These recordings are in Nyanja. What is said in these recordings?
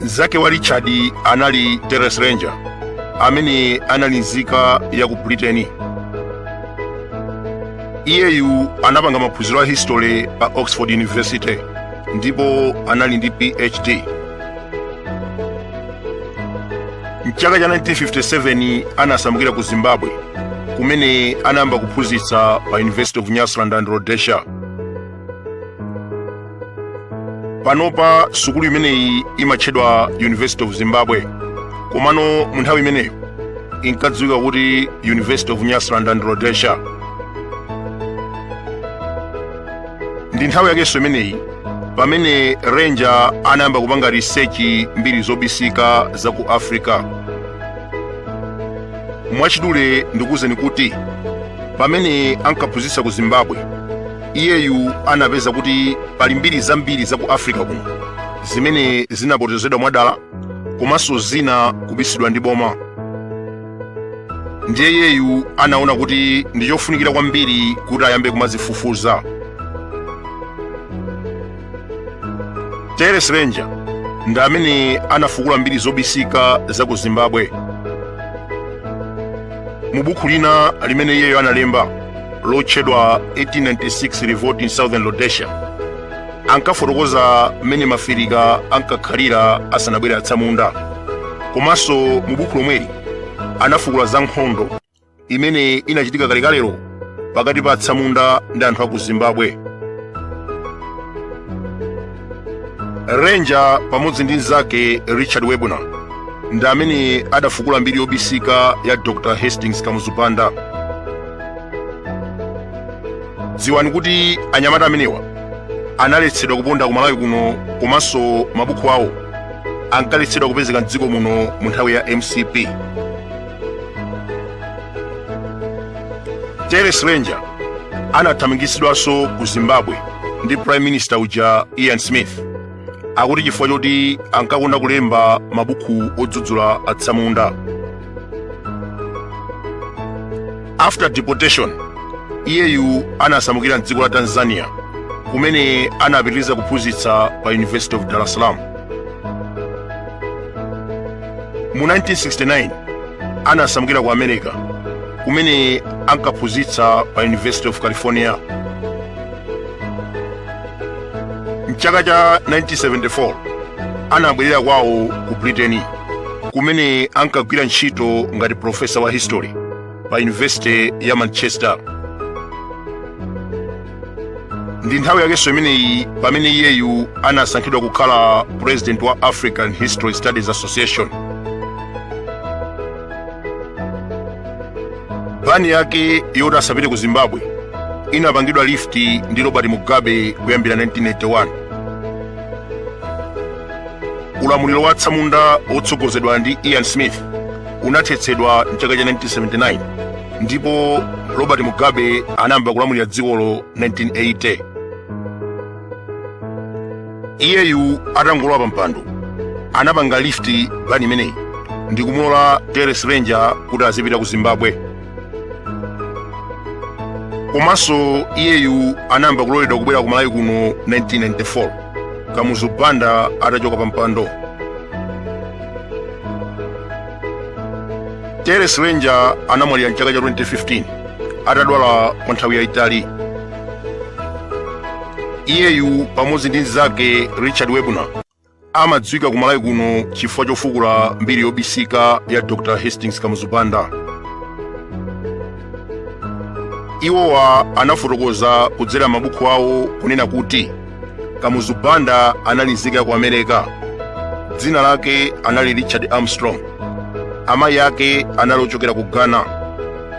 Mnzake wa Richard anali Terence Ranger, amene anali nzika ya ku Britain. Iyeyu anapanga maphunziro a history pa Oxford University ndipo anali ndi PhD. Mchaka cha 1957 anasamukira ku Zimbabwe kumene anayamba kuphunzitsa pa University of Nyasaland and Rhodesia. panopa sukulu imeneyi imatchedwa university of zimbabwe komano mu nthawi imeneyo inkadziwika kuti university of nyasaland and rhodesia ndi nthawi yakenso imeneyi pamene ranger anayamba kupanga research mbiri zobisika za ku africa mwachidule ndikuwuzeni kuti pamene ankaphunzitsa ku zimbabwe Iyeyu anapeza kuti pali mbiri zambiri za ku Africa kuno zimene zinapotozedwa mwadala komanso zina kubisidwa ndi boma. Ndiye iyeyu anaona kuti ndi chofunikira kwambiri kuti ayambe kumazifufuza. Terence Ranger ndi amene anafukula mbiri zobisika za ku Zimbabwe. Mu buku lina limene iyeyu analemba lotchedwa 1896 revolt in southern rhodesia ankafotokoza mmene maafirika ankakhalira asanabwere atsamunda komanso mu buku lomweli anafukula za nkhondo imene inachitika kalekalelo pakati pa atsamunda ndi anthu a ku zimbabwe ranger pamodzi ndi mnzake richard werbner ndi amene adafukula mbiri yobisika ya dr hastings kamuzu banda dziwani kuti anyamata amenewa analetsedwa kuponda ku malawi kuno komanso mabuku awo ankaletsedwa kupezeka mdziko muno mu nthawi ya mcp terence ranger anathamangitsidwanso ku zimbabwe ndi prime minister uja ian smith akuti chifukwa choti ankakonda kulemba mabuku odzudzula atsamunda after deportation iyeyu anasamukira mdziko la tanzania kumene anapitiriza kuphunzitsa pa university of dar es salaam mu 1969 anasamukira ku america kumene ankaphunzitsa pa university of california mchaka cha 1974 anabwerera kwawo ku britain kumene ankagwira ntchito ngati profesa wa history pa university ya manchester ndi nthawi yakenso imeneyi pamene iyeyu anasankhidwa kukhala president wa african history studies association ban yake yoti asapite ku zimbabwe inapangidwa lift ndi robert mugabe kuyambira 1981 ulamuliro wa atsamunda wotsogozedwa ndi ian smith unathetsedwa mchaka cha 1979 ndipo robert mugabe anayamba kulamulira dzikolo 1980 iyeyu atangolowa pa mpando anapanga lift ban imeneyi ndi kumulola terence ranger kuti azipita ku zimbabwe komanso iyeyu anayamba kuloledwa kubwera ku malawi kuno 1994 kamuzu banda atachoka pa mpando terence ranger anamwalira mchaka cha 2015 atadwala kwa nthawi yayitali iyeyu pamodzi ndi mnzake richard werbner amadziwika ku malawi kuno chifukwa chofukula mbiri yobisika ya dr hastings kamuzu banda iwowa anafotokoza kudzera mabuku awo kunena kuti kamuzu banda anali nzika ya ku america dzina lake anali richard armstrong amayi ake anali ochokera ku ghana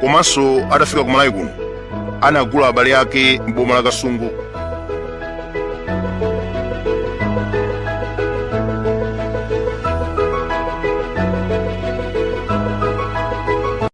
komanso atafika ku malawi kuno anagula abale ake m'boma la kasungu